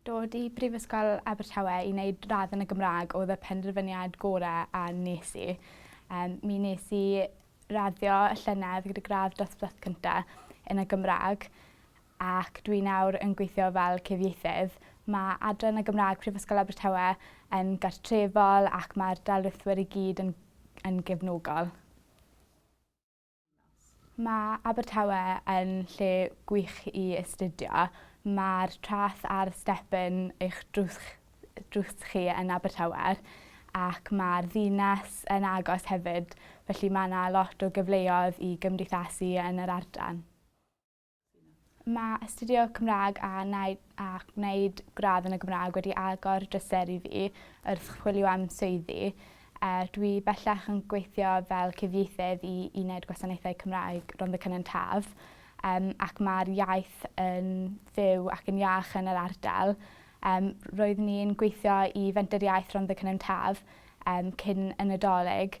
Dod i Brifysgol Abertawe i wneud radd yn y Gymraeg oedd y penderfyniad gorau a nes i. Um, mi nes i raddio y llynedd gyda gradd dosbarth cynta yn y Gymraeg ac dwi nawr yn gweithio fel cyfieithydd. Mae adran y Gymraeg Prifysgol Abertawe yn gartrefol ac mae'r dalrithwyr i gyd yn, yn gefnogol. Mae Abertawe yn lle gwych i astudio. Mae'r traeth a'r step yn eich drws chi yn Abertawe ac mae'r ddinas yn agos hefyd felly mae 'na lot o gyfleoedd i gymdeithasu yn yr ardal. Mae astudio Cymraeg a gwneud gradd yn y Gymraeg wedi agor drysau i fi wrth chwilio am swyddi. Dwi bellach yn gweithio fel cyfieithydd i Uned Gwasanaethau Cymraeg Rhondda Cynon Taf ac mae'r iaith yn fyw ac yn iach yn yr ardal. Roeddwn i'n gweithio i Fenter Iaith Rhondda Cynon Taf cyn y Nadolig